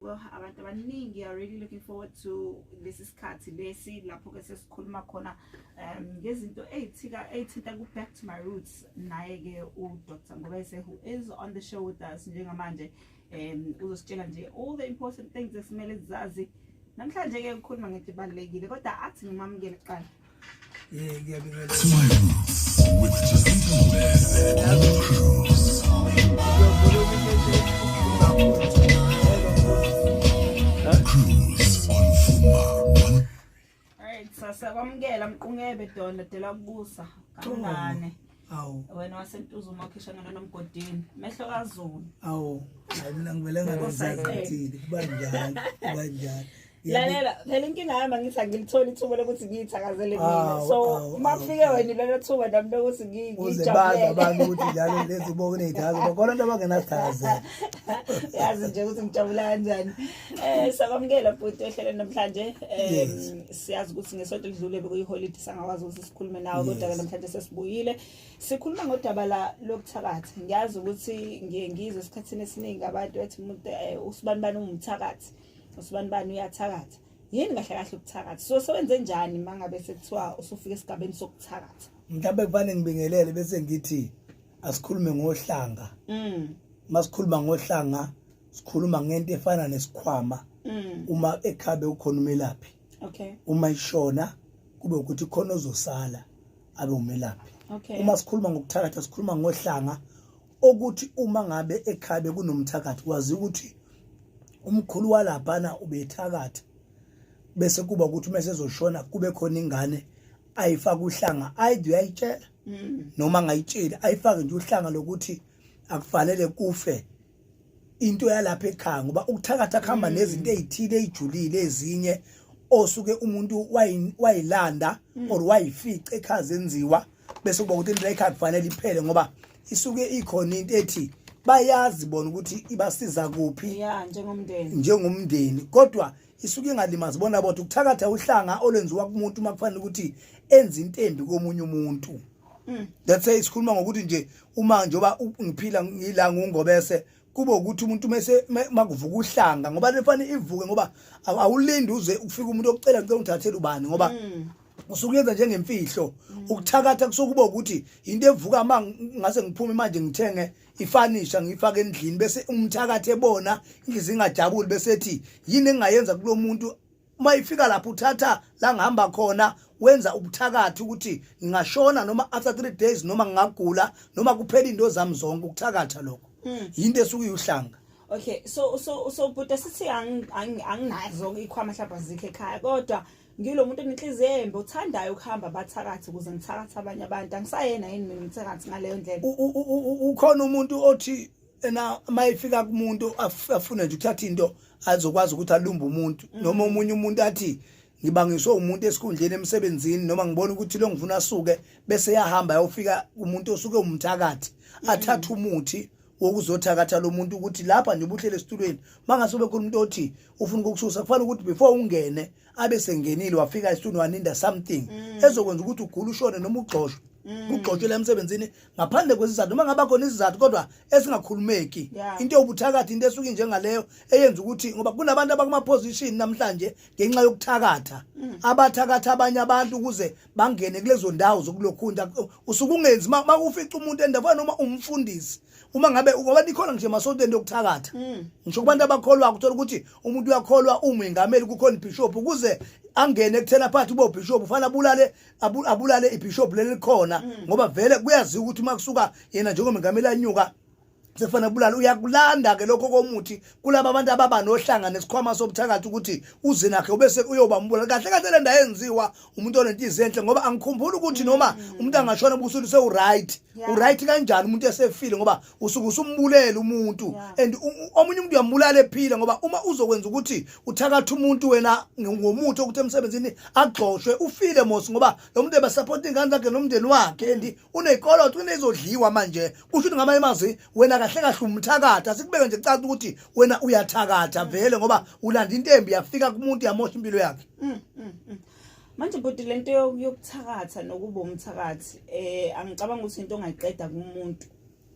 well abantu abaningi are really looking forward to lesi sikhathi lesi lapho-ke sesikhuluma khona um ngezinto eyithika eyithinta ku-back to my roots naye-ke udr ngobese who is on the show with us njengamanje um uzositshela nje all the important things esimele zazi namhlanje-ke ukhuluma ngento ebalulekile kodwa athi ngimamukele kuqala Sasa kwamukela mqungebe dona dela kubusa kamngane. awu wena wasentuza uma ukhishana lona mgodini mehlo kazulu awu hayi mina ngivele ngalozazithile kuba njalo kuba njalo lalela phela inkinga yami angithi angilitholi ithuba lokuthi ngiyithakazele mina Awu, so awu, uma awu, kufike awu. wena lelo thuba nami lokuthi ngi- uze bazi ngijabulele abantu ukuthi njalo lezi bo kuney'thazo bakhona abantu abangenasithazela yazi nje ukuthi ngijabula kanjani um sakwamukela bhuti ohlele namhlanje um Yes. siyazi ukuthi ngesonto elidlule bekuyiholide sangakwazi ukuthi sikhulume nawe kodwa ke namhlanje sesibuyile sikhuluma ngodaba la lokuthakathi ngiyazi ukuthi ngiye ngizwe esikhathini esiningi abantu ethi umuntu eh, usibani bani ungumthakathi usibani bani uyathakatha yini kahle kahle ukuthakatha so sewenze njani mangabe sekuthiwa usufika esigabeni sokuthakatha mhlawumbe kufanele ngibingelele bese ngithi asikhulume ngohlanga mm masikhuluma ngohlanga sikhuluma ngento efana nesikhwama mm. uma ekhabe ukhona umelaphi okay uma ishona kube ukuthi khona ozosala abe umelaphi okay uma sikhuluma ngokuthakatha sikhuluma ngohlanga okuthi uma ngabe ekhabe kunomthakathi wazi ukuthi umkhulu walaphana ubethakatha bese kuba ukuthi uma sezoshona kube khona ingane ayifaka uhlanga ayide uyayitshela mm. noma angayitsheli ayifake nje uhlanga lokuthi akufanele kufe into yalapha ekhaya ngoba ukuthakatha kuhamba mm. nezinto ezithile ezijulile ezinye osuke umuntu wayilanda mm. or wayifica ekhaya zenziwa bese kuba ukuthi into ekhaya kufanele iphele ngoba isuke ikhona into ethi bayazi bona ukuthi ibasiza kuphi ya njengomndeni njengomndeni kodwa isuke ingalimazi bona bodwa ukuthakatha uhlanga olwenziwa kumuntu uma kufanele ukuthi enze intembi komunye umuntu Mm. That's why sikhuluma ngokuthi nje uma njoba ngiphila ngila ngungobese kube ukuthi umuntu mese makuvuka uhlanga ngoba lefana ivuke ngoba awulindi uze ufike umuntu okucela ngicela ungithathele ubani ngoba mm. usukuyenza njengemfihlo mm. ukuthakatha kusokuba ukuthi into evuka ma ngase ngiphume manje ngithenge ifanisha ngifake endlini bese umthakathe bona inhliziyo ingajabuli bese ethi yini engayenza kulomuntu uma ifika lapho uthatha la ngihamba khona wenza ubuthakathi ukuthi ngingashona noma after 3 days noma ngingagula noma kuphela into zami zonke ukuthakatha lokho hmm. yinto esuke iuhlanga okay so so so buta sithi anginazo ikhwama mhlawumbe azikho ekhaya kodwa ngilomuntu enenhliziyo embi uthandayo ukuhamba bathakathi ukuze ngithakathe abanye abantu angisayena yini mina umthakathi ngaleyo ndlela ukhona umuntu othi ena uma ifika kumuntu afune nje ukuthatha into azokwazi ukuthi alumbe umuntu mm. noma omunye umuntu athi ngibangiswe umuntu esikhundleni emsebenzini noma ngibona ukuthi lo ngifuna asuke bese yahamba yofika umuntu osuke umthakathi mm. athatha umuthi wokuzothakatha lo muntu ukuthi lapha nje ubuhlele esitulweni mangase ube khona umuntu othi ufuna ukukususa kufanele ukuthi before ungene abe sengenile wafika esitulweni waninda something mm. ezokwenza ukuthi ugule ushone noma ugxoshwe kugxotshela emsebenzini ngaphandle kwesizathu noma ngaba khona isizathu kodwa esingakhulumeki into yobuthakathi into esuke njengaleyo eyenza ukuthi ngoba kunabantu abakuma position namhlanje ngenxa yokuthakatha mm. abathakatha abanye abantu ukuze bangene kulezo ndawo zokulokhunta usuke ungenzi makufica umuntu endaweni noma umfundisi uma ngabe ngoba nikhona nje masonto into yokuthakatha mm. ngisho kubantu abakholwa ukuthola ukuthi umuntu uyakholwa umengameli kukhona ibishop ukuze angene kuthena phathi bo bishop ufana bulale abu- abulale ibishop leli likhona Mm. ngoba vele kuyaziwa ukuthi uma kusuka yena njengomengameli anyuka sekufanele kubulala uyakulanda ke lokho komuthi kulaba abantu ababa nohlanga nesikhwama sobuthakathi ukuthi uze nakhe ubese uyoba umbulala kahle kahle le ndawo yenziwa umuntu onenhliziyo enhle ngoba angikhumbuli ukuthi noma umuntu angashona ubusuku sewuright Mm. Yeah. uright kanjani umuntu esefile ngoba usuke usumbulele umuntu and omunye umuntu uyambulala ephila ngoba uma uzokwenza ukuthi uthakatha umuntu wena ngomuthi okuthi emsebenzini agxoshwe ufile mos ngoba lo muntu ebasapota ingane zakhe nomndeni wakhe and unekoloto kunezodliwa manje kusho ukuthi ngamanye amazwi wena kahle kahle umthakatha sikubeke nje kucaca ukuthi wena uyathakatha vele ngoba ulanda intembi yafika kumuntu yamosha impilo yakhe mm, mm, mm. manje bhuti lento yokuthakatha nokuba umthakathi eh angicabanga ukuthi into ongayiqeda kumuntu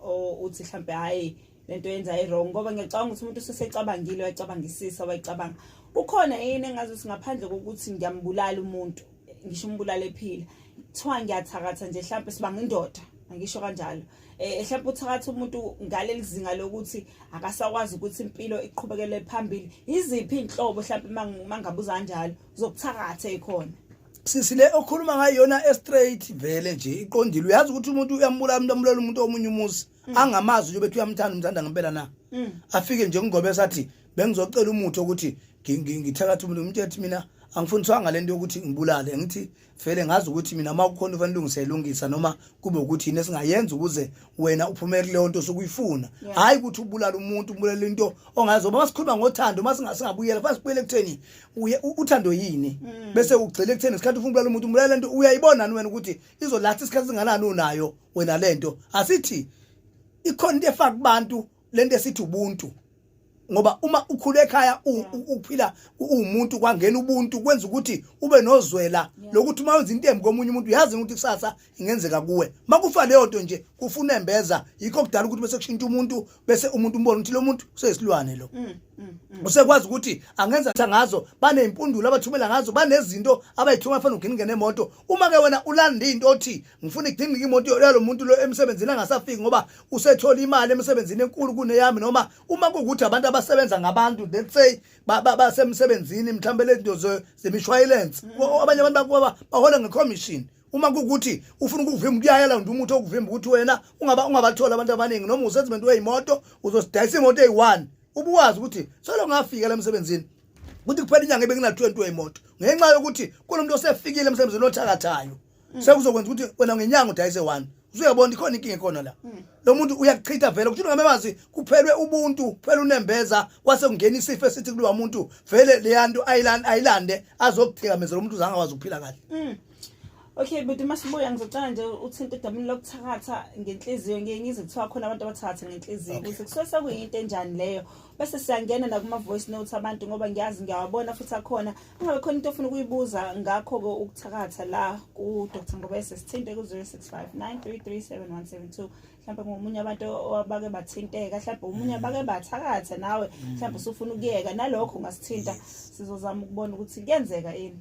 o uthi mhlambe hayi lento yenza iwrong ngoba ngiyacabanga ukuthi umuntu usesecabangile wayicabangisisa wayicabanga kukhona yini engazi ukuthi ngaphandle kokuthi ngiyambulala umuntu ngisho umbulala ephila kuthiwa ngiyathakatha nje mhlampe sibanga indoda angisho kanjalo eh mhlawumbe uthakatha umuntu ngaleli zinga lokuthi akasakwazi ukuthi impilo iqhubekele phambili iziphi inhlobo mhlawumbe mangabuza kanjalo zokuthakatha ekhona sisi le okhuluma ngayona estraight vele nje iqondile uyazi ukuthi umuntu uyambulala umuntu ambulela umuntu omunye umuzi mm. angamazi nje bethi uyamthanda umthanda ngempela na mm. afike nje kungobe sathi bengizocela umuthi ukuthi ngithakatha umuntu umuntu ethi mina angifundiswanga lento yokuthi ngibulale ngithi vele ngazi ukuthi mina uma kukhona ufanele ulungise lungisa noma kube ukuthi yini esingayenza ukuze wena uphume kuleyo nto sokuyifuna hayi ukuthi ubulala umuntu ubulala into ongazi uma sikhuluma ngothando uma singabuyela fase kubuyele ekutheni uthando yini mm. bese ugcile ekutheni isikhathi ufuna ubulala umuntu umulala lento uyayibona wena ukuthi izolatha isikhathi singanani unayo wena lento asithi ikhona into efaka kubantu lento esithi ubuntu ngoba uma ukhula ekhaya uphila uwumuntu kwangena ubuntu kwenza ukuthi ube nozwela lokuthi uma wenza into embi komunye umuntu uyazi ukuthi kusasa ingenzeka kuwe makufa leyo nto nje kufuna embeza yikho kudala ukuthi bese kushintsha umuntu bese umuntu umbona ukuthi lo muntu useyisilwane lo mm, mm, mm. usekwazi ukuthi angenza ngazo baneyimpundulo abathumela ngazo banezinto abayithuma fanele ugcine ngene emoto uma ke wena ulanda into othi ngifuna igcine imoto yalo muntu lo emsebenzini angasafiki ngoba usethola imali emsebenzini enkulu kuneyami noma uma kuwukuthi abantu abasebenza ngabantu let's say basemsebenzini mhlawumbe lezinto zemishwayilense mm. abanye abantu bahola ngecommission uma kukuthi ufuna ukuvimba kuyayela nje umuthi okuvimba ukuthi wena ungaba ungabathola abantu abaningi noma usezimento weyimoto uzosidayisa imoto eyi-one ubuwazi ukuthi solo ngafika la emsebenzini ukuthi kuphela inyanga ebenginathiwe nto yeyimoto ngenxa yokuthi kunomuntu osefikile emsebenzini othakathayo mm. sekuzokwenza ukuthi wena ngenyanga udayise one usuyabona ikhona inkinga ekhona la mm. lo muntu uyakuchitha vele ukuthi ungamemazi kuphelwe ubuntu kuphela unembeza kwase kungena isifo esithi kulowa muntu vele leya nto ayilande azokuthikameza lo muntu uzange akwazi ukuphila kahle mm. Okay but masibuya ngizocela nje uthinte edamini lokuthakatha ngenhliziyo ngiye ngizwe kuthiwa khona abantu abathakatha ngenhliziyo ukuthi kusuke sekuyinto enjani leyo bese siyangena nakuma voice notes abantu ngoba ngiyazi ngiyawabona futhi akhona Ngabe khona into ofuna ukuyibuza ngakho-ke ukuthakatha la ku-Dr Ngobese sithinte ku-065 933 mhlawumbe ngomunye abantu abake bathinteka mhlawumbe omunye mm. abake bathakatha nawe mm. mhlawumbe usufuna ukuyeka nalokho ungasithinta sizozama ukubona ukuthi kuyenzeka yini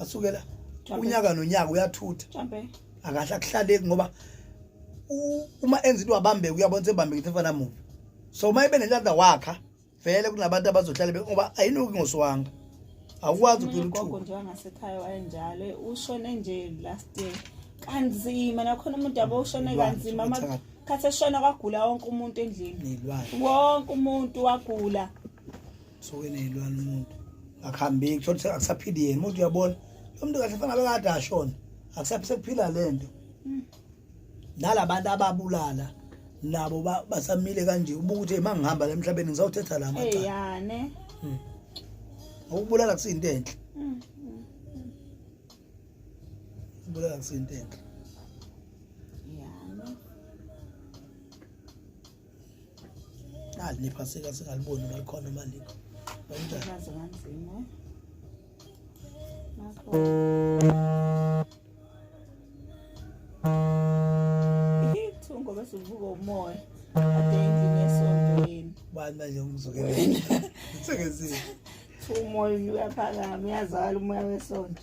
asukela unyaka nonyaka uyathutha akahle akuhlaleki ngoba uma enza into wabambeka uyabona sebambeka into efana mubi so uma ibe nenhlanhla wakha vele kunabantu abazohlala be ngoba ayinuki ngoswanga awukwazi ukuphila uthuthu nje wangasekhaya wayenjalo ushone nje last year kanzima nakhona umuntu yabo ushone kanzima amakhathi eshona kwagula wonke umuntu endlini wonke umuntu wagula suke nezilwane umuntu akuhambeki thola ukuthi akusaphili yena umuntu uyabona lo muntu kahle fanele kade ashona akusaphile sekuphila le nto hmm. nalabantu ababulala nabo basamile kanje ubuka ukuthi uma ngihamba la emhlabeni ngizawuthetha la macala hmm. ukubulala kusiyinto enhle hmm, ukubulala kusiyinto enhle ali nephaseka singaliboni uma likhona uma likho ithungo bese uvuka umoya ade endlini esontweni bani manje umzukeleni sengezile umoya uyaphakama uyazala umoya wesonto